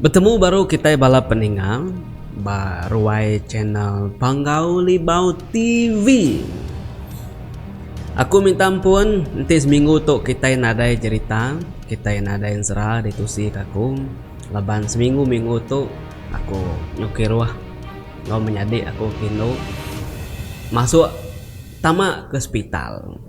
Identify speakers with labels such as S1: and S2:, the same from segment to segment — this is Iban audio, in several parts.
S1: Betemu baru kitai bala peninga ba ruai channel Panggau Libau TV. Aku minta ampun enti seminggu tu kitai nadai jerita, kitai nadai ensera ditusika aku laban seminggu-minggu tu aku nyukir ruah. Enggau menyadi aku kindu masuk tama ke sepital.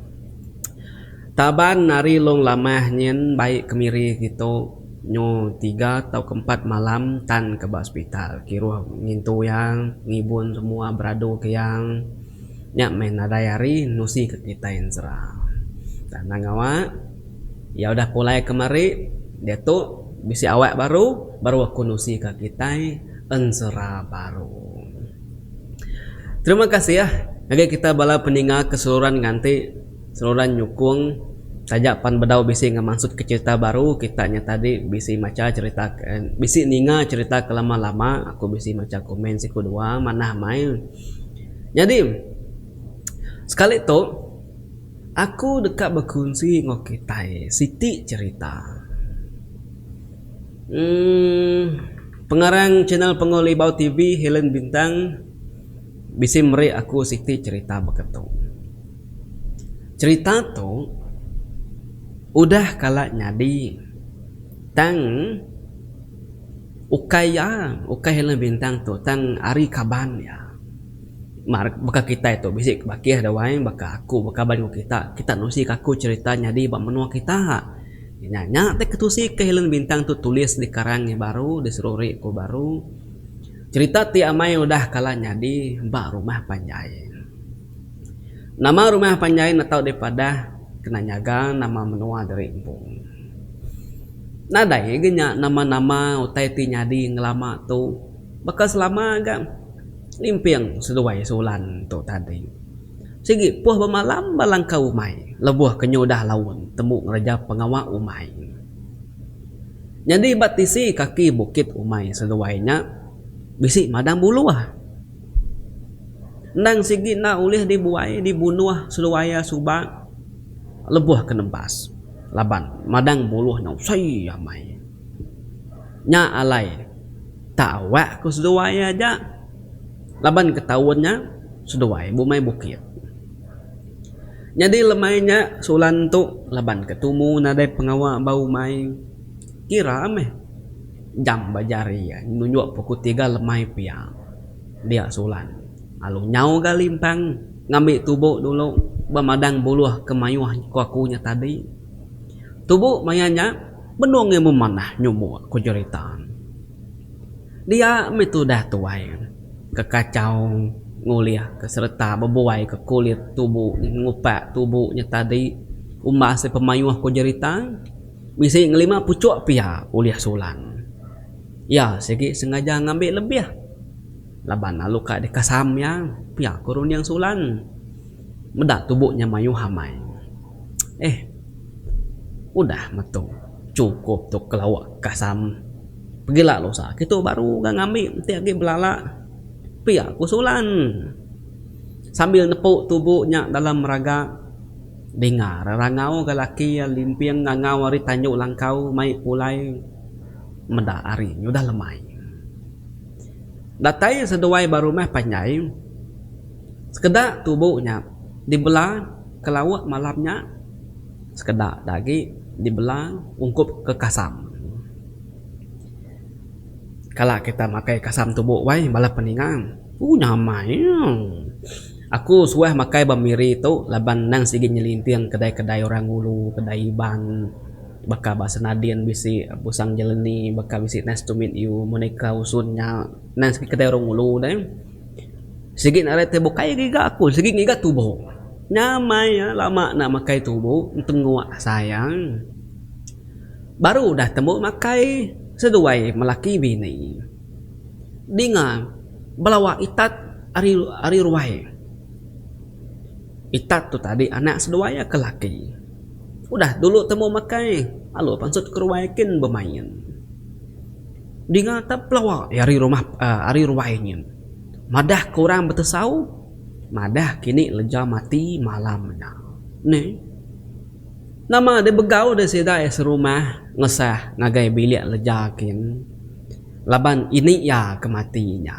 S1: Taban ari Long Lamah nyin bai kemiri kitu nyu tiga tauka empat malam tan ke ba sepital. Kiruh ngintu iya, ngibun semua beradu ke iya. Nya meh nadai ari nusika kitai ensera. Tanang ngawa iya udah pulai kemari diatu bisi awak baru, baru aku nusika kitai. Enzora baru. Terima kasih ngagai kita bala peninga ke seluran nganti seluran nyukung taja pan bedau bisi ngemansut ke cerita baru kita nya tadi bisi macha cerita bisi ninga cerita ke lama-lama aku bisi macha komen siku dua manah mai nyadi sekali tu aku deka bekunsi enggau kitai siti cerita. Pengarang channel Pengawa Libau TV Helen Bintang bisi meri aku siti cherita baka tu. Cherita tu udah kala nyadi tang ukai iya, ukai Helen Bintang tu tang ari kaban iya. Baka kitai tu bisi bakih da wai baka aku baka kaban kita, kita nusi ka aku cherita nyadi ba menua kita. Nya nya ti ketusi ke Helen Bintang tu tulis di karang iya baru di Seruri ku baru cherita ti amai udah kala nyadi ba rumah panjai. Nama rumah panjai ne tau dipadah kena nyaga nama menua diri empu. Nadai ge nya nama-nama utai ti nyadi ngelama tu baka selama ga limping seduai Sulan tu tadi. Sigi puh bemalam ba langkau umai lebuh ke nyudah laun tembu ngereja pengawa umai. Nyadi ba tisi kaki bukit umai seduai nya bisi madang buluh. Endang sigi enda ulih dibuai dibunuh seduai iya suba lebuh ke nembas laban madang buluh nya usai amai. Nya alai tak awak ku seduai aja. Laban ketaun nya seduai bumai bukit. Nyadi lemai nya Sulan tu laban ke tumu nadai pengawa ba umai. Kira meh jam ba jari iya nunjuk pukul tiga lemai pia. Dia Sulan lalu nyau ga limpang ngambi tubu dulu ba madang buluh ke mayuh ku aku nya tadi. Tubu maya nya benung iya memanah nyumuk ku jerita. Dia meh tudah tuai ke kachau ngulihka sereta bebuaika kulit tubu ngupak tubu nya tadi umbas iya pemayuh ku jerita bisi ngelima puchok pia ulih sulang. Iya sigi sengaja ngambi lebih laban lalu ka dikasam iya pia ku runding sulang meda tubu nya mayuh amai. Eh udah metu. Chukup tu kelawa kasam. Pegila lusa kitu baru ga ngambi enti agi belala pia ku Sulan sambil nepu tubu nya dalam raga dinga ra rangau ga laki iya limping ngangau ari tandu langkau mai pulai meda hari nya udah lemai. Datai seduai ba rumah panjai sekeda tubu nya dibela kelawa malam nya. Sekeda da agi dibela ungkup ke kasam. Kala kita makai kasam tubo wai bala peningan. Ooh nyamai iya. Aku suah makai ba Miri tu laban endang sigi nyelinting kedai-kedai orang ngulu, kedai Iban baka ba Senadin bisi, Pusang Jeleni baka bisi nice to meet you, Monica Usun nya endang sigi kedai orang ngulu deh. Sigi narai tubuh kai ngiga aku sigi ngiga tubuh nya meh iya lama enda makai tubuh tengua sayang baru udah tembu makai seduai melaki bini dinga belawa itat ari ruai itat tu tadi anak seduai iya ke laki udah dulu tembu makai lalu pansut ke ruai kin bemain. Dinga tap pelawa iya ari rumah ari ruai nyin. Madah ke orang betesau, madah kini leja mati malam nya. Ni. Nama deh begau deh sida iya serumah ngesah ngagai bilik leja kin laban ini iya ke mati nya.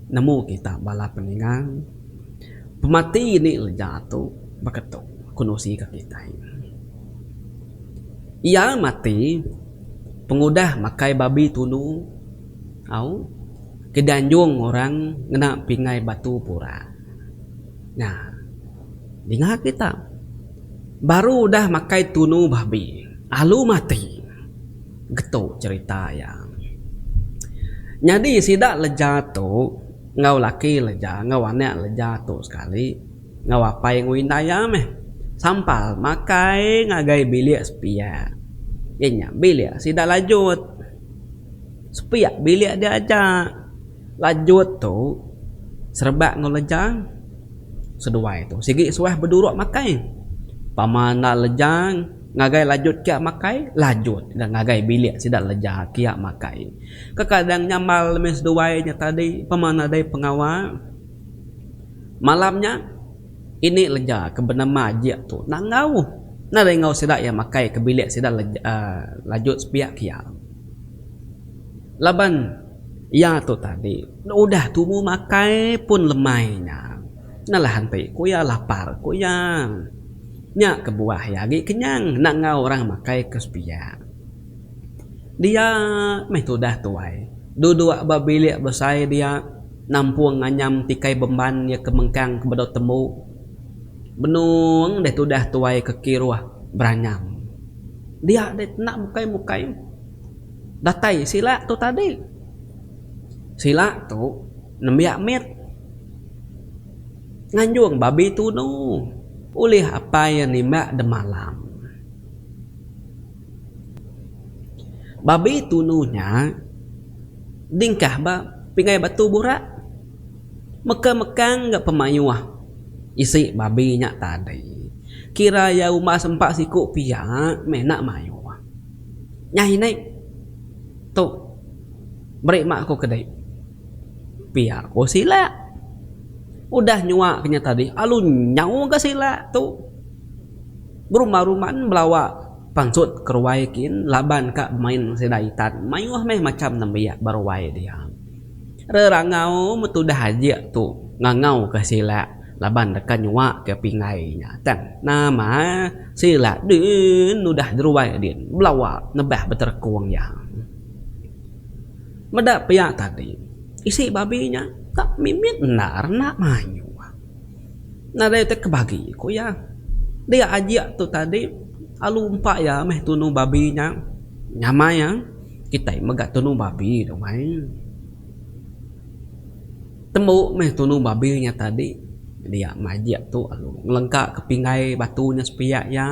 S1: Nemu kita bala peninga, pemati ini leja tu baka tu, ku nusi ka kitai. Iya mati. Pengudah makai babi tunu au ke dianjung orang ngena pingai batu pura. Nya dinga kita baru udah makai tunu babi alu mati getu cerita iya. Nyadi sida leja tu enggau laki leja enggau anak leja tu sekali. enggau apai enggau indai iya meh sampal makai ngagai bilik sepiak iya nya bilik sida lanjut sepiak bilik dia aja lanjut tu serebak enggau lejang seduai tu sigi suah beduruk makai pama enda lejang ngagai lanjut kiak makai lanjut ga ngagai bilik sida lejang kiak makai kadang-kadang nyambal meh seduai nya tadi pama nadai pengawa. Malam nya, ini leja ke benema jik tu nangau nadai enggau sida iya makai ke bilik sida lajut sepiak ke iya. Laban iya tu tadi udah tumu makai pun lemai nya. Nalah enti ku iya lapar ku iya. Nya kebuah iya agi kenyang enda enggau orang makai ke sepiak. Dia meh tudah tuai. Duduk ba bilik besai dia, nampung nganyam tikai bemban iya ke mengkang ke bedau tembu. Benung deh tudah tuai ke kiruh beranyam. Dia deh kena mukai-mukai. Datai sila tu tadi. Sila tu nembiak mit. Nganjung babi tunu. Ulih apai iya nimbak demalam. Babi tunu nya dingkah ba pingai batu burak. Mekang-mekang ga pemayuh isi babi nya tadi. Kira iya umbas empa siku pia meh enda mayuh. Nya ini tu meri mak aku kedi pia ko sila. Udah nyuak inya tadi lalu nyau ga sila tu. Beruman-ruman belawa pansut ke ruai kin laban ka bemain sida itan mayuh meh macham nembiak ba ruai dia. Rerangau metudah ajik tu ngangau ka sila laban deka nyua ka pinggai nya tang nama sila din nudah jeruai din belawa nebah beterekung iya. Meda pia tadi isi babi nya tak mimit endar enda mayuh. nadai ti ke bagi ku iya dia ajik tu tadi alu empa iya meh tunu babi nya nyamai iya kitai mega tunu babi dumai tembu meh tunu babi nya tadi dia meh ajik tu alu ngelengka ke pinggai batu nya sepiak iya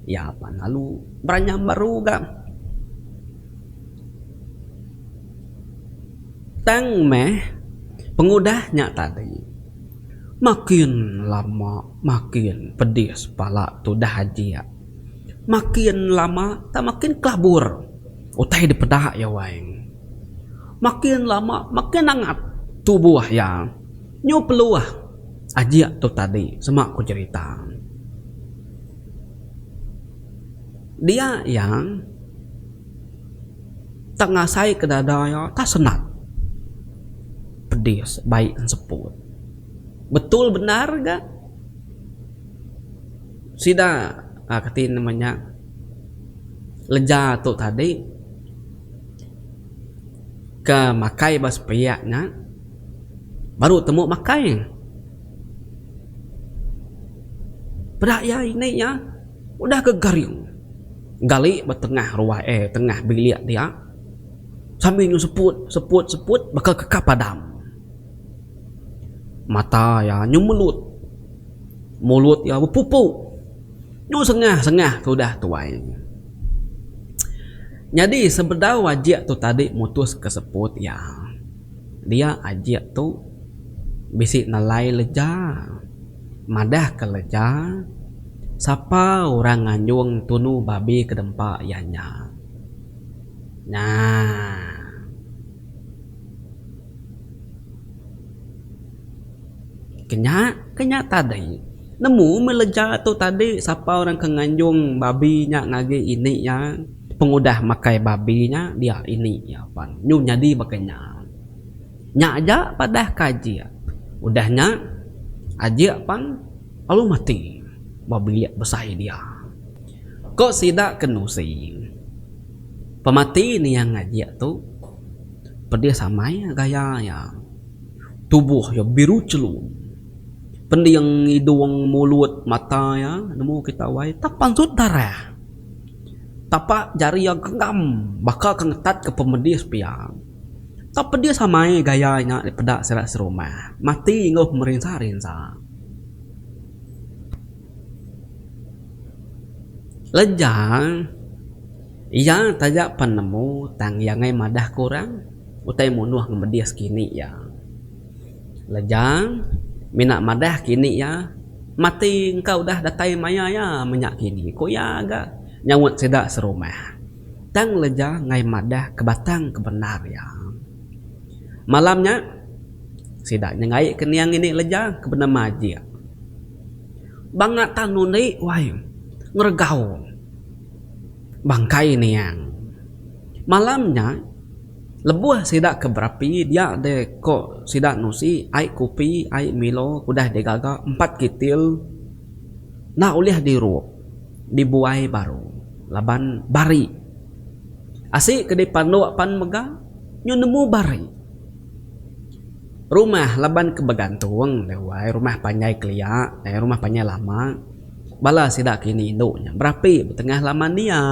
S1: iya pan alu beranyam baru ga. Tang meh pengudah nya tadi, makin lama makin pedis pala tudah ajik. Makin lama tang makin kelabur utai dipeda iya Wang. Makin lama makin angat tubuh iya. Nyu peluh ajik tu tadi sema ku jerita. Dia iya. Tang ngasai ke dada iya tak senang. Pedis bai ngan seput. Betul bendar ga sida uhh kati nama nya leja tu tadi ke makai ba sepiak nya baru temu makai. Peda iya ini iya udah ke garing. gali ba tengah ruah eh tengah bilik dia sambil nyu seput seput seput baka keka padam. Mata iya nyu melut. Mulut iya bepupu. Nyu sengah sengah ke udah tuai. Nyadi sebedau ajik tu tadi mutus ke seput iya. Dia ajik tu bisi nelai leja. Madah kereja, sapa orang nganjung tunu babi ke dempa iya nya. Nya. Ke nya tadi. Nemu meh leja tu tadi sapa orang ke nganjung babi nya ngagi ini iya, pengudah makai babi nya dia ini iya pan. Nyu nyadi baka nya. Nya aja padah ka Ajik. Udah nya, Ajik pan lalu mati ba bilik besai dia. Ko sida ke nusi, pemati niang Ajik tu pedis amai gaya iya. Tubuh iya biru chelum. Pending, idung, mulut, mata iya nemu kita wai tapansut darah. Tapa jari iya genggam baka ke ngetat ke pemedis pia. Tau pedis amai gaya nya peda sida serumah mati enggau pemerinsa-rinsa. Lejang iya taja pen nemu tang iya ngei madah ke orang utai munuh ngemedis kini iya. Lejang mina madah kini iya mati engka udah datai maya iya menya kini ku iya ga nyaut sida serumah. tang leja enggai madah ke batang ke bendar iya. Malam nya, sida nyengai kening ini leja ke benema ajik. Banga tan undi wai ngeregau bangkai niang. Malam nya, lebuh sida ke berapi dia deh ko sida nusi ai kopi ai milo ke udah digaga empat kitil enda ulih dirup. dibuai baru laban bari. Asi ke dipanduk pan mega nyu nemu bari. Rumah laban ke begantung deh wai rumah panjai kelia eh rumah panjai lama bala sida kini indu nya berapi betengah laman dia.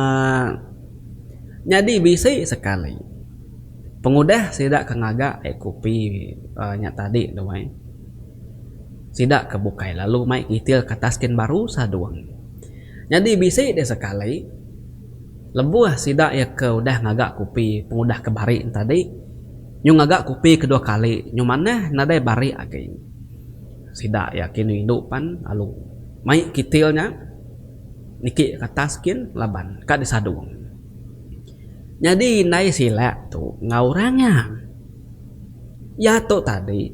S1: Nyadi bisi sekali pengudah sida ke ngaga ai kopi nya tadi tu ai. Sida ke bukai lalu mai ngitil ke atas kin baru sadung. Nyadi bisi deh sekali, lebuh sida iya ke udah ngaga kopi pengudah ke barik tadi, nyu ngaga kopi kedua kali nyu manah nadai barik agi. Sida iya kin rindu pan lalu mai kitil nya niki ke atas kin laban ka disadung. Nyadi indai sila tu enggau orang nya. Iya tu tadi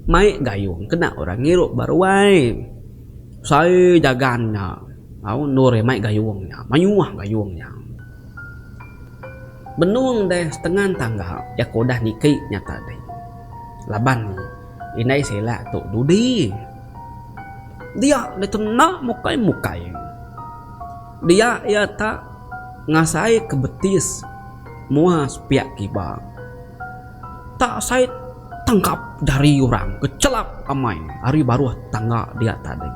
S1: mai gayung kena orang ngirup ba ruai. Sai jagan nya au endur iya mai gayung nya. Mayuh gayung nya. Benung deh setengan tangga iya ke udah niki nya tadi. Laban indai sila tu dudi. Dia deh kena mukai-mukai. Dia iya tak ngasai ke betis mua sepiak kiba. Tak sai tangkap dari orang ke chelap amai ari baruh tangga dia tadi.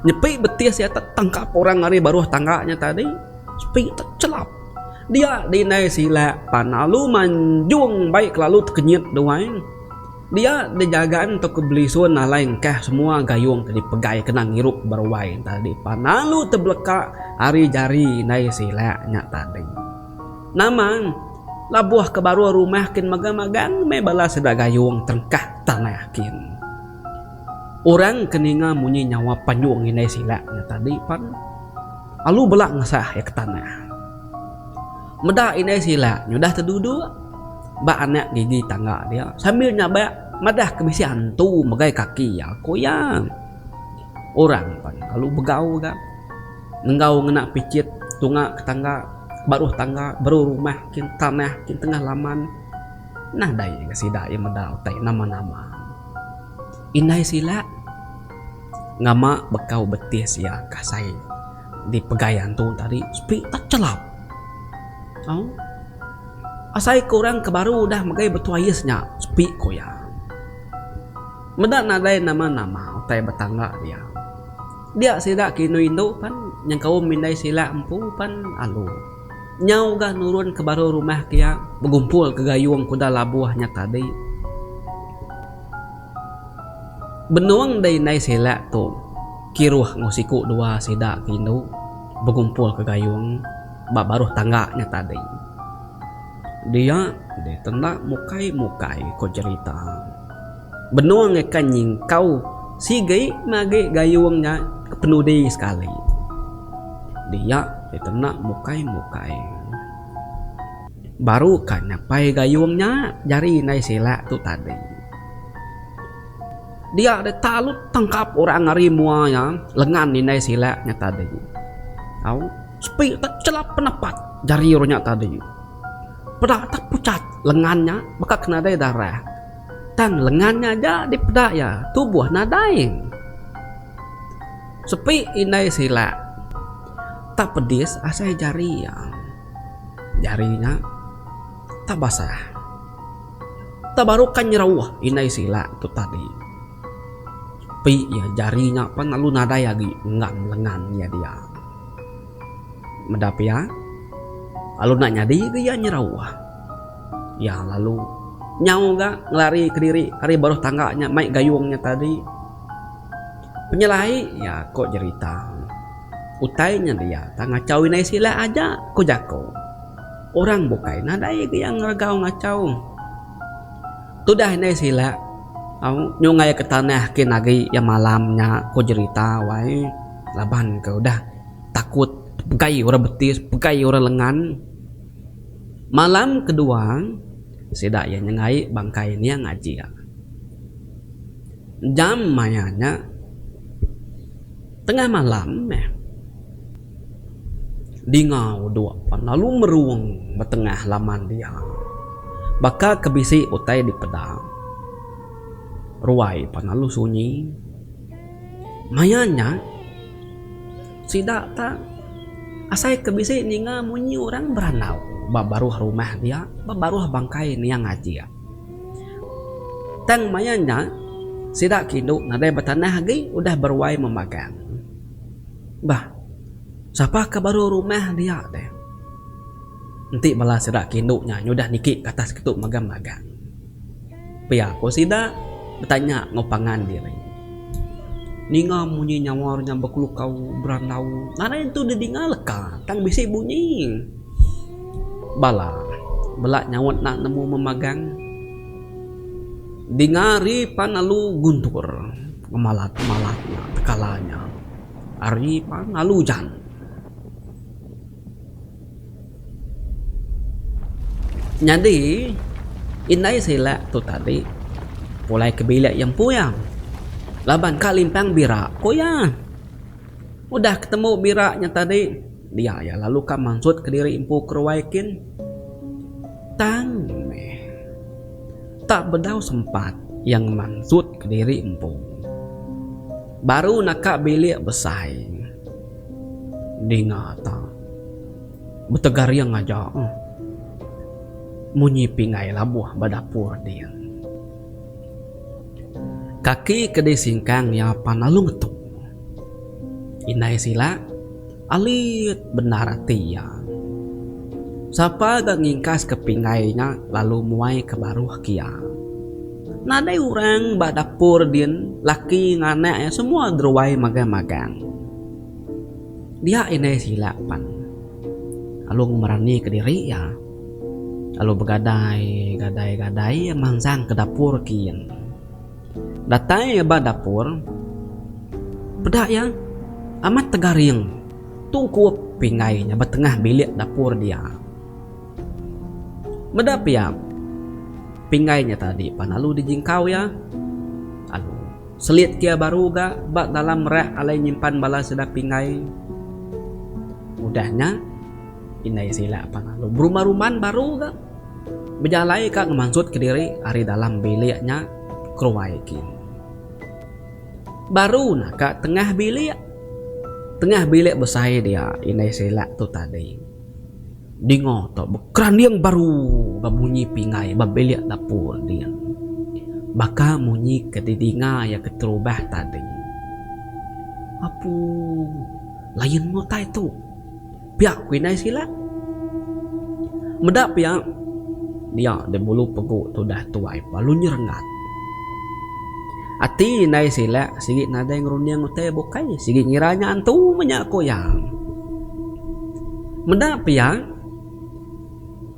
S1: Nyepi betis iya tak tangkap orang ari baruh tangga nya tadi sepi tak chelap. Dia di indai sila pan lalu manjung bai kelalu tekenyit duai. Dia degagan entu ke belisun alai engkah semua gayung ke dipegai kena ngirup ba ruai tadi pan lalu tebeleka ari jari indai sila nya tadi. Nama labuh ke baruh rumah kin mega magang meh bala sida gayung terengkah tanah kin. Orang ke ninga munyi nyawa panjung indai sila nya tadi pan lalu bela ngesah iya ke tanah. Meda indai silak nyudah teduduk ba anak gigi tangga dia sambil nyabak madah ke bisi antu megai kaki iya, ku iya. Orang pan lalu begau ga enggau ngena pichit tunga ke tangga, baruh tangga, baruh rumah kin tanah kin tengah laman. Nadai ga sida iya meda utai nama-nama. Indai silak ngama bekau betis iya kasai. Di pegai antu tadi sepi techelap. Au. Asai ke orang ke baru udah megai betuais nya sepi ku iya. Meda nadai nama-nama utai betangga dia. Dia sida ke indu-indu pan nyengkaum indai sila empu pan alu. Nyau ga nurun ke baru rumah ke iya begumpul ke gayung kuda labuh nya tadi. Benung dei indai sila tu kiruh enggau siku dua sida ke indu bengumpulka gayung ba baruh tangga nya tadi. Dia deh tenda mukai-mukai ko jerita. Benung ikan nyingkau sigi ngagi gayung nya ke penudi sekali. Dia deh tenda mukai-mukai. Baru ka nyapai gayung nya jari indai Selak tu tadi. Dia deh talut tangkap orang ari mua iya lengan indai Selak nya tadi. Au, sepi tak chelap penapat jari orang nya tadi. Peda tak puchat lengan nya baka ke nadai darah. Tang lengan nya aja dipeda iya tubuh nadai. Sepi indai Selak tak pedis asai jari iya. Jari nya tang basah. Tang baru ka nyerauh indai sila tu tadi. Pi iya jari nya pan lalu nadai agi enggam lengan iya dia. Meda pia, lalu enda nyadi ga iya nyerauh. Iya lalu nyau ga ngelari kediri ari baruh tangga nya mai gayung nya tadi. Penyelai iya, ko jerita. Utai nya dia tang ngachau inai sila aja, ku jaku. Orang bukai nadai ga iya ngeregau ngachau. Tudah inai sila, au nyungai ke tanah kin agi iya malam nya, ku jerita wai laban ke udah takut pegai orang betis, pegai orang lengan. Malam kedua, sida iya nyengai bangkai Niang Ajik. Jam maya nya. Tengah malam meh. Dingau dua pan lalu merung ba tengah laman dia. Baka ke bisi utai dipeda. Ruai pan lalu sunyi. Maya nya sida tak asai ke bisi ninga munyi orang berandau ba baruh rumah dia, ba baruh bangkai niang ajik. Tang maya nya, sida ke indu nadai betanah agi udah beruai memagang. Bah, sapa ke baru rumah dia deh. Enti bala sida ke indu nya nyudah niki ke atas kitu mega magang. Pia ku sida betanya enggau pangan diri. Ninga munyi nyawar nya bekelukau berandau nadai nentu didinga leka tang bisi bunyi. Bala bela nyaut enda nemu memagang. Dinga ari pan alu guntur ngemalat-malat nya tekala nya. Ari pan alu ujan. Nyadi indai silek tu tadi pulai ke bilik iya empu iya laban ka limpang bira ku iya. Udah ketemu bira nya tadi, dia iya lalu ka mansut kediri empu keruai kin. Tang meh, tak bedau sempat iya ngemansut kediri empu. Baru naka bilik besai. Dinga ta. Betegaring aja. Munyi pingai labuh ba dapur ding. Kaki ke disingkang iya pan alu ngetuk. Indai sila, alit bendar ati iya. Sapa ga ngingkas ke pinggai nya lalu muai ke baruh kia. Nadai urang ba dapur din laki enggau anak iya semua deruai magang magang. Dia indai sila pan alu ngemerani ke diri iya. Lalu begadai gadai gadai iya mansang ke dapur kin. Datai iya ba dapur peda iya amat tegaring tu kup pinggai nya ba tengah bilik dapur dia. Meda pia pinggai nya tadi pan lalu dijingkau iya lalu selit ke iya baru ga ba dalam rak alai nyimpan bala sida pinggai. Udah nya. Indai sila pan lalu berumah ruman baru ga bejalai ka ngemansut ke diri ari dalam bilik nya keruai kin. Baru na ka tengah bilik. Tengah bilik besai dia indai sila tu tadi. Dinga tu bekeranding baru ba munyi pinggai ba bilik dapur din. Baka munyi ke di dinga iya keterubah tadi. Apu lain utai tu. Pia ku indai sila. Meda pia dia di bulu pegu tudah tuai palu nyerengat. Ati indai sila sigi nadai ngerunding utai bukai sigi ngira nya antu menya ku iya. Meda pia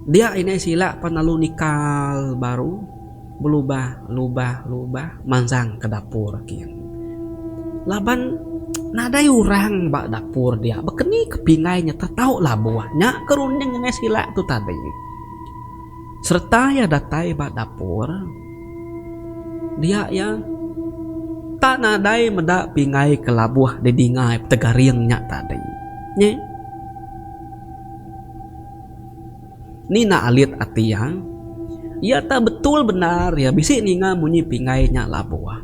S1: dia indai sila pan lalu nikal baru. Belubah lubah lubah manjang ke dapur kin. Laban nadai orang ba dapur dia bekeni ke pingai nya tetau labuh nya ke runding ngengai sila tu tadi. Sereta iya datai ba dapur dia iya tak nadai meda pingai ke labuh di dinga iya petegaring nya tadi. Nyi. Ni nak alit ati iya? Iya tau betul bendar iya bisi ninga munyi pinggai nya labuh.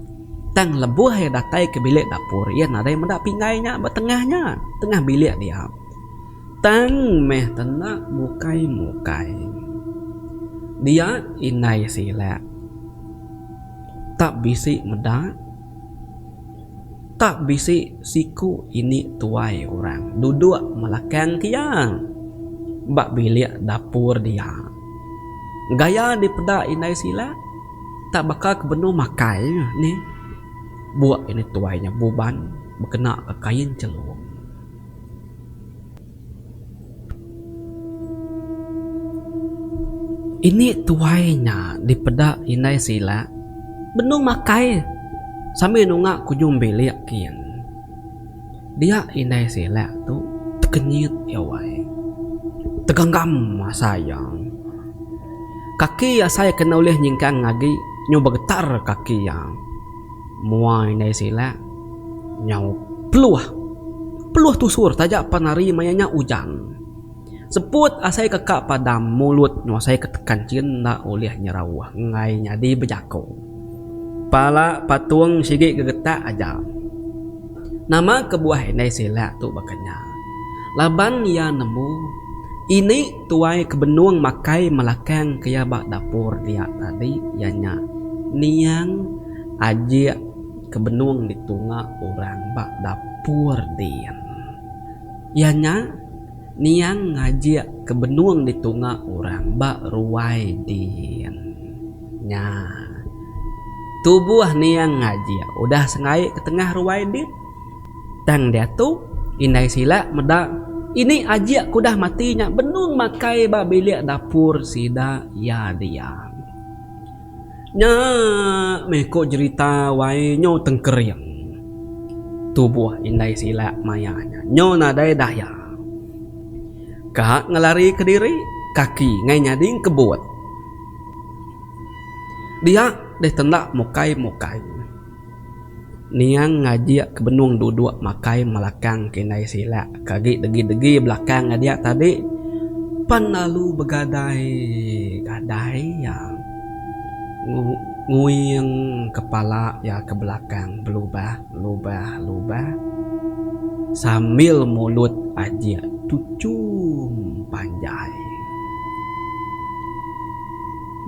S1: Tang lebuh iya datai ke bilik dapur iya nadai meda pinggai nya ba tengah nya, tengah bilik dia. Tang meh tenda mukai-mukai. Dia indai silek. Tak bisi meda. Tak bisi siku ini tuai orang duduk melakang kia ba bilik dapur dia. Gaya dipeda indai sila tak baka ke benung makai nih. Buk ini tuai nya buban bekenaka kain chelung. Ini tuai nya dipeda indai sila benung makai sambil nunga kujung bilik kin. Dia indai sila tu tekenyit gawai. Teganggam asai iya. Kaki asai kena ulih nyingkang agi nyau begetar kaki iya. Mua indai silak nyau peluh. Peluh tusur taja pan hari maya nya ujan. Seput asai ke ka padam mulut nguasai ke tekan chin enda ulih nyerau enggai nyadi bejako. Pala patung sigi gegetak aja. Nama kebuah indai silak tu baka nya laban iya nemu ini. Tuai ke benung makai melakang ke iya ba dapur dia tadi iya nya niang ajik ke benung ditunga orang ba dapur din. Iya nya niang ngajik ke benung ditunga orang ba ruai din. Nya. Tubuh niang ngajik udah sengaik ke tengah ruai din. Tang diatu, indai sila meda ini ajik ke udah mati nya benung makai ba bilik dapur sida iya diang. Nya meh ku jerita wai nyu tengkering. Tubuh indai sila maya nya nyu nadai daya. Ka ngelari kediri, kaki ngai nyading kebut. Dia deh tenda mukai-mukai. Niang ngajik ke benung duduk makai melakang ke indai sila ke agi degi degi belakang iya dia tadi pan lalu begadai gadai iya nguing kepala iya ke belakang belubah lubah lubah sambil mulut ajik tuchum panjai.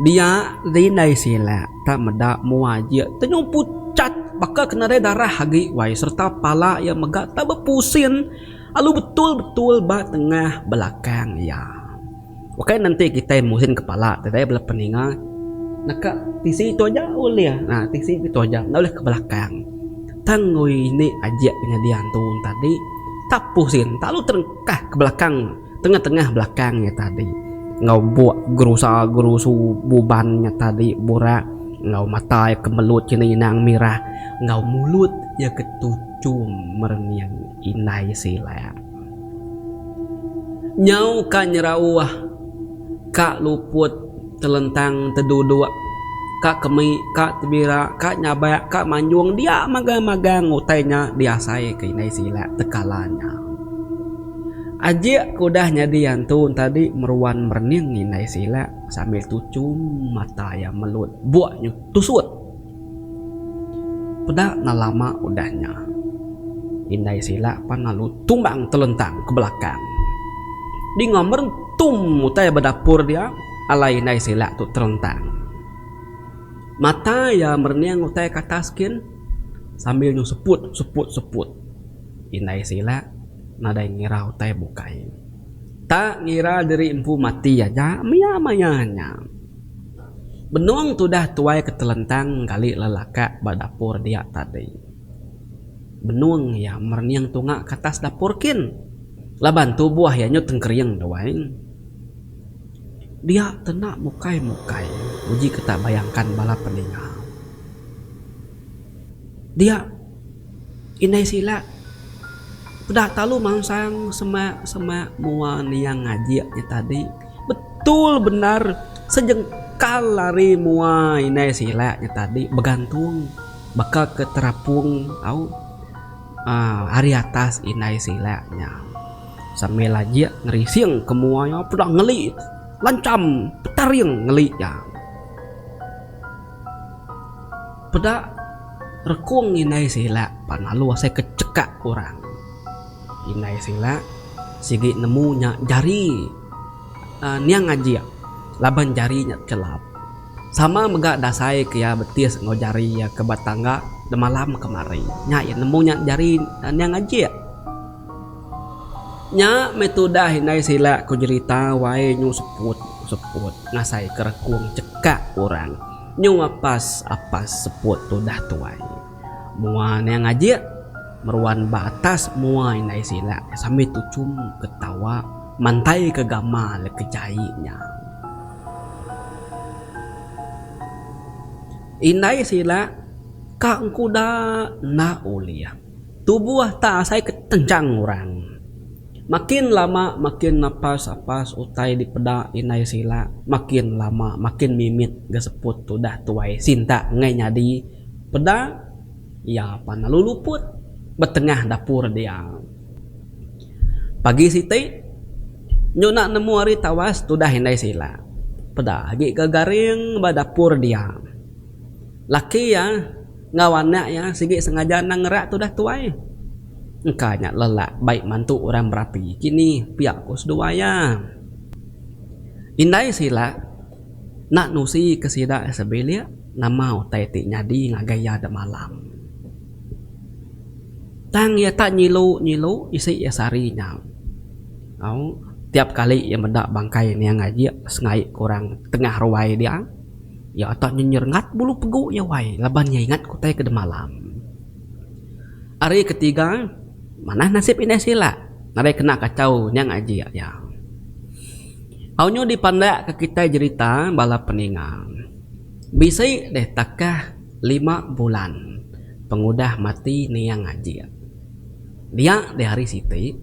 S1: Dia di indai sila. Tang meda mua ia tenyung pucat baka ke nadai darah agi wai sereta pala ia mega tau bepusin lalu betul-betul ba tengah belakang ia. Ukai nenti kitai musin kepala ti dai bala peninga naka tisi tu aja ulih na tisi tu aja enda ulih ke belakang. Tang oi indi ajik penyadi antu tadi tak pusin tak lalu terengkah ke belakang. Tengah-tengah belakang nya tadi enggau buk gerusa-gerusu buban nya tadi burak enggau mata iya ke melut kini inang mirah enggau mulut iya ke tuchum merening indai silak. Nyau ka nyerauh ka luput. Telentang teduduk ka kemi ka tebira ka nyabak ka manjung dia magang magang utai nya diasai ke indai sila tekala nya. Ajik ke udah nyadi antu entadi meruan merening indai sila sambil tuchum mata iya melut buk nyu tusut. Peda enda lama udah nya, indai sila pan lalu tumbang telentang ke belakang. Dinga merentum utai ba dapur dia, alai indai sila tu terentang. Mata iya merening utai ke atas gin sambil nyu seput seput seput. Indai sila nadai ngira utai bukai. Tak ngira diri empu mati aja mia maya nya. Benung tudah tuai ke telentang engkali lelakak ba dapur dia tadi. Benung iya merening tunga ke atas dapur kin laban tubuh iya nyut engkering tuai. Dia tena mukai-mukai uji ke tak bayangkan bala peninga. Dia. Indai sila udah telalu mansang semak semak mua niang ngajik nya tadi betul bendar sejengkal ari mua indai sila nya tadi begantung baka ke terapung au uhh ari atas indai sila nya sambil ajik ngerising ke mua iya peda ngeli lancham petaring ngeli iya. Peda rekung indai sila pan lalu asai ke chekak orang. Indai sila sigi nemu nya jari niang ngajik laban jari nya tekelap. Sama mega dasai ke iya betis enggau jari iya ke ba tangga demalam kemari. Nya iya nemu nya jari niang ngajik. Nya meh tudah indai sila ku jerita wai nyu seput seput ngasai ke rekung chekak orang. Nyung apas apas seput tudah tuai. Mua nya ngajik meruan ba atas mua indai silak sambil tuchum ketawa mantai ke gama leka jai nya. Indai silak ka engkuda enda ulih. Tubuh tak asai ke tenchang orang. Makin lama makin napas apas utai dipeda indai sila makin lama makin mimit ga seput tudah tuai sinta ngai nyadi peda iya pan lalu luput ba tengah dapur dia. Pagi siti nyu enda nemu ari tawas tudah indai sila peda agi ga garing ba dapur dia. Laki iya enggau anak iya sigi sengaja endang ngerak tudah tuai. Engka nya lelak bai mantu orang berapi kini, pia ku seduai iya. Indai sila enda nusi ke sida sebilik nama utai ti nyadi ngagai iya dek malam. Tang iya tak nyilu nyilu isi iya sehari nya. Au, tiap kali iya meda bangkai niang ajik sengaik ke orang tengah ruai dia. Iya atak nyenyer ngat bulu pegu iya wai laban iya ingat kutai ke demalam. Ari ketiga, manah nasib indai sila nadai kena kachau nyang ajik iya. Aunyo dipandakka kitai jerita bala peninga. Bisi deh takah lima bulan pengudah mati niang ajik. Dia deh ari siti,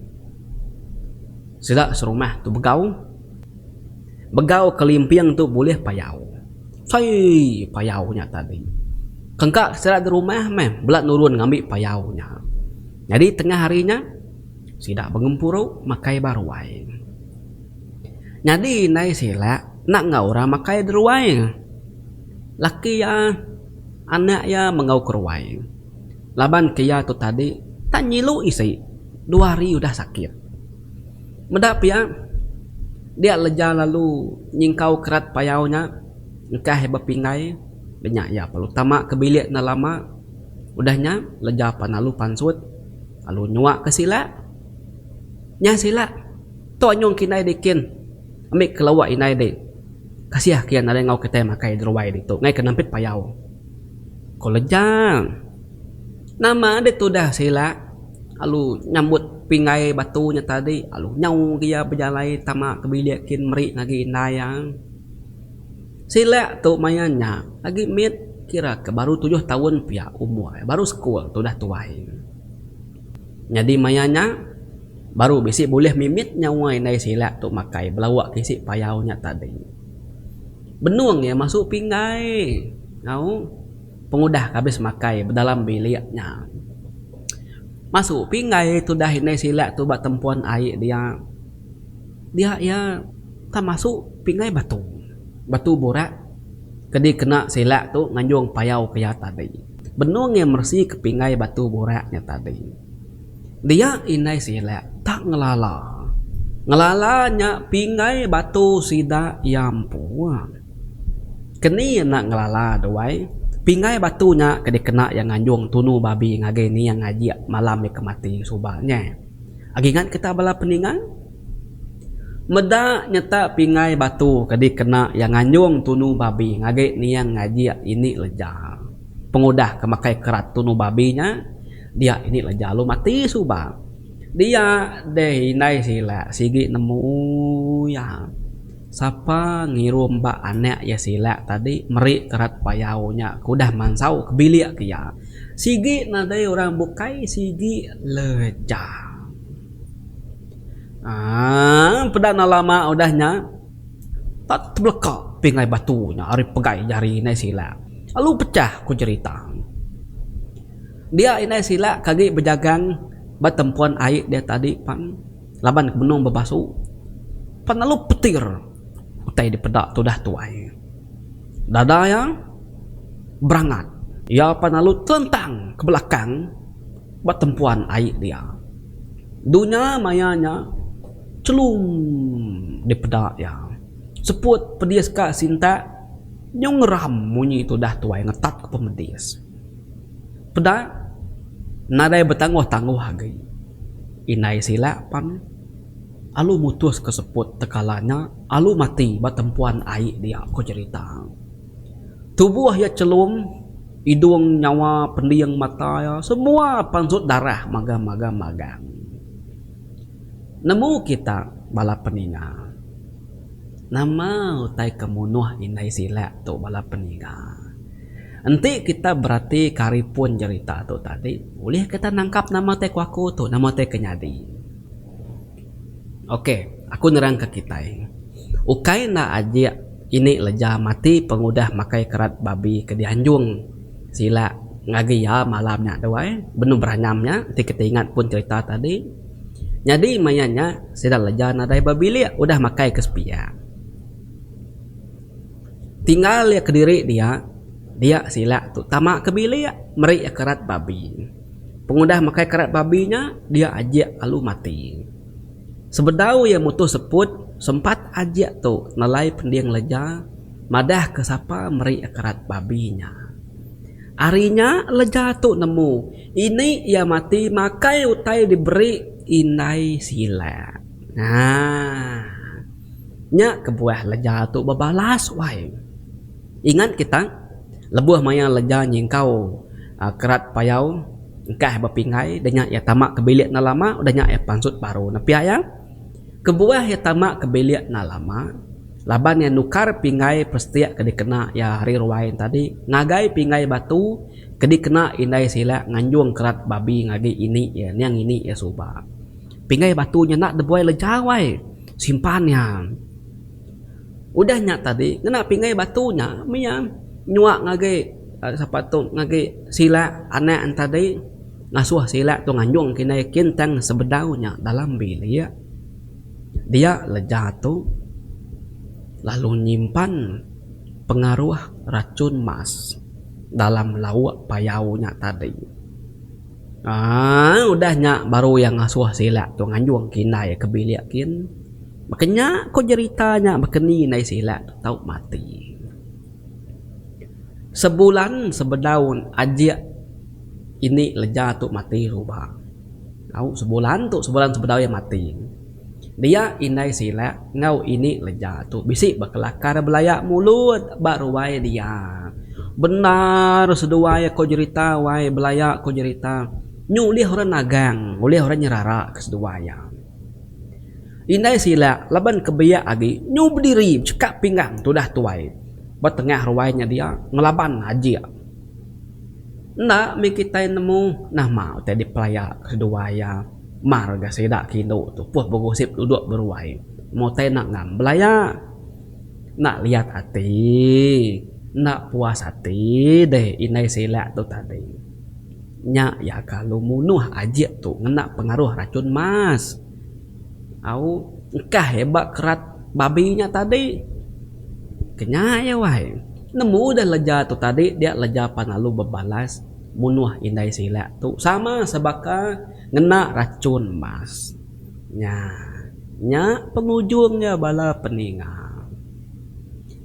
S1: sida serumah tu begau. Begau kelimping tu bulih payau. Saiiii payau nya tadi. Kengka sida di rumah meh bela nurun ngambi payau nya. Nyadi tengah hari nya sida bengempuru makai ba ruai. Nyadi indai sila enda enggau orang makai di ruai. Laki iya, anak iya menggau ke ruai. Laban ke iya tu tadi tak nyilu isi dua hari udah sakit. Meda pia, dia leja lalu nyingkau kerat payau nya engkah bepinggai be nya iya perlu tama ke bilik enda lama udah nya leja pan lalu pansut lalu nyuak ke sila. Nya sila tok nyong ke indai deh kin ambi ke lawak indai deh. Kasih ke iya nadai enggau kitai makai di ruai ditu ngai ke nempit payau, ko Leja. Nama deh tudah sila alu nyambut pinggai batu nya tadi alu nyau agi iya bejalai tama ke bilik kin meri agi indai iya. Sila tu maya nya agi mit kira ke baru tujuh taun pia umur iya baru sekul tudah tuai. Nyadi maya nya baru bisi bulih mimit nyawa indai sila tu makai belawa ke isi payau nya tadi. Benung iya masu pinggai au. pengudah ke abis makai bedalam bilik nya. Masu pinggai tudah indai sila tu ba tempun ai dia. Dia iya tang masu pinggai batu. Batu burak ke dikena sila tu nganjung payau ke iya tadi. Benung iya meresi ke pinggai batu burak nya tadi. dia indai sida tak ngelala. Ngelala nya pingai batu sida iya empu. Ke ni enda ngelala tu ai, pingai batu nya ke dikena iya nganjung tunu babi ngagai ni iya ngajik malam iya ke mati suba nya. Agi ngan kita bala peningan, meda nyata pingai batu ke dikena iya nganjung tunu babi ngagai ni iya ngajik ini leja pengudah ke makai kerat tunu babi nya. Dia ini lah jalu mati suba. Dia deh indai sila sigi nemu iya. Sapa ngirum ba anak iya sila tadi meri terat payau nya ke udah mansau ke bilik iya. Sigi nadai orang bukai sigi leja. Aaa peda enda lama udah nya tak tebeleka pingai batu nya ari pegai jari indai sila lalu pecah ku jerita. Dia indai sila ke agi bejagang ba tempuan ai dia tadi pan laban ke benung bebasu pan lalu petir utai dipeda tudah tuai. Dada iya berangat. Iya pan lalu telentang ke belakang ba tempuan ai dia. Dunya maya nya chelum dipeda iya. Seput pedis ka sintak nyung ngeram munyi tudah tuai ngetat ke pemedis. Peda nadai betangguh-tangguh agi. Indai sila pan alu mutus ke seput tekala nya alu mati ba tempuan ai dia ko cherita. Tubuh iya chelum idung nyawa pending mata iya semua pansut darah magang-magang magang. Nemu kita bala peninga. Nama utai ke munuh indai silak tu bala peniga? Enti kita beratika ari pun jerita tu tadi, ulih kita nangkap nama utai ku aku tu, nama utai ke nyadi. Ok, aku nerangka kitai. Ukai enda ajik ini leja mati pengudah makai kerat babi ke dianjung silak ngagai iya malam nya dua ai, benung beranyam nya enti kita ingat pun jerita tadi. Nyadi maya nya sida leja nadai ba bilik udah makai ke sepiak. Tinggal iya kediri dia, dia sila tu tama ke bilik meri iya kerat babi. Pengudah makai kerat babi nya dia ajik lalu mati. Sebedau iya mutuh seput sempat ajik tu nelai pending leja madah ke sapa meri iya kerat babi nya. Ari nya leja tu nemu. Ini iya mati makai utai diberi indai sila. Aaa. Nya kebuah leja tu bebalas wai. Ingat kita, lebuh maya leja nyingkau kerat payau engkah bepinggai udah nya iya tama ke bilik enda lama udah nya iya pansut baru nepi iya. Kebuah iya tama ke bilik enda lama laban iya nukar pinggai pestik ke dikena iya hari ruai tadi ngagai pinggai batu. Ke dikena indai silak nganjung kerat babi ngagi ini iya niang ini iya suba. Pinggai batu nya enda debuai lejau ai simpan iya. Udah nya tadi ngena pinggai batu nya mia nyuak ngagi sapa tu ngagi silak anak ne tadi ngasuh silak tu nganjung ke indai kin tang sebedau nya dalam bilik dia leja tu lalu nyimpan pengaruh rachun mas. dalam lauk payau nya tadi. Aaa udah nya baru iya ngasuh sila tu nganjung ke indai iya ke bilik kin. Baka nya ko jerita nya baka ni indai sila tu tau mati. Sebulan sebedau ajik ini leja tu mati suba. Au sebulan tu sebulan sebedau iya mati. Dia indai silap enggau ini leja tu bisi bekelakar belaya mulut ba ruai dia. Bendar seduai ko jerita wai belaya ko jerita nyu ulih orang nagang ulih orang nyerara ke seduai iya. Indai silap laban ke biak agi nyu bediri becheka pinggang tudah tuai ba tengah ruai nya dia ngelaban ajik. Enda mih kitai nemu nama utai dipelaya kedua iya mar ga sida ke indu tu puh begosip duduk beruai meh utai enda ngam belaya enda liat ati enda puas ati deh indai sila tu tadi nya iya kalu munuh ajik tu ngena pengaruh racun mas. Au engkah iya ba kerat babi nya tadi. Kenya iya wai. Nemu udah leja tu tadi dia leja pan lalu bebalas munuh indai silak tu sama sebaka ngena rachun mas. Nya nya pengujung iya bala peninga.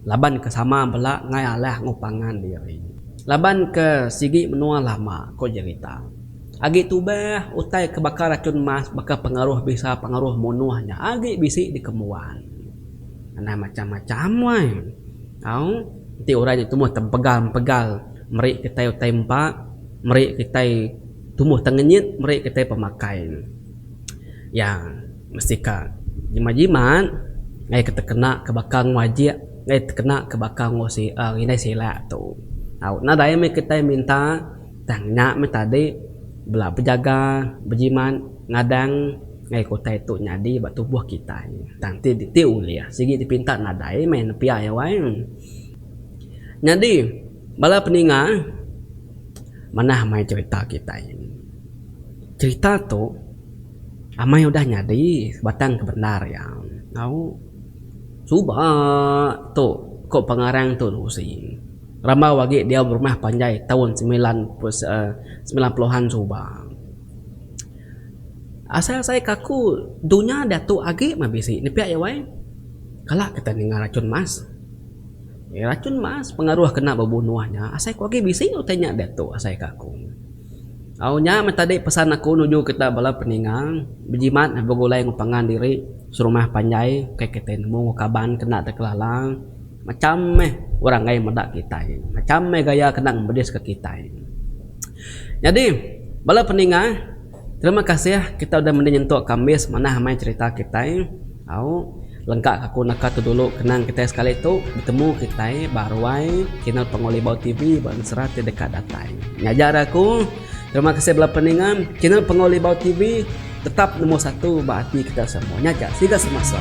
S1: Laban ke sama bela ngai alah enggau pangan diri. Laban ke sigi menua lama, ku Jerita. Agi tubah, utai ke baka racun mas baka pengaruh bisa pengaruh munuh nya agi bisi dikembuan. Anang macham-macham wai. Au, enti orang nya tumbuh tempegal-empegal meri kitai utai empa, meri kitai tumbuh tengenyit, meri kitai pemakai iya mesti ka jimat-jimat ngaya ke tekena ke baka ngajik, ngaya tekena ke baka enggau si, aaa, ngindai silak tu. Au, nadai meh kitai minta. Tang nya meh tadi bela bejaga bejimat ngadang ngagai utai tu nyadi ba tubuh kitai. Tang ti ti ulih sigi dipinta nadai meh nepia iya wai. Nyadi bala peninga manah mai cherita kitai. Cherita tu amai udah nyadi sebatang ke bendar iya. Au suba tu ko pengarang tu usi. Rambau agi diau berumah panjai taun semilan semilan puluhan suba. Asai asai ke aku dunya diatu agi meh bisi nepia iya wai. Kala kita ninga racun mas. Racun mas pengaruh ke enda bebunuh nya asai ku agi bisi utai nya diatu asai ke aku. Au nya meh tadi pesan aku nuju kita bala peninga bejimat begulai enggau pangan diri serumah panjai kai kita nemu enggau kaban ke enda te kelala. Macham meh orang ngai meda kitai. Macham meh gaya kena ngemediska kitai. Nyadi, bala peninga, terima kasih kitai udah mende nyentuk kambis manah amai cherita kitai. Au, lengka aku naka tu dulu kenang kitai sekali tu betemu kitai ba ruai channel Pangu Libau TV ba ensera ti deka datai. Ngajar aku. Terima kasih bela peninga channel Pengawa Libau TV tetap nombor satu ba ati kita semua nya aja. Siga semasa.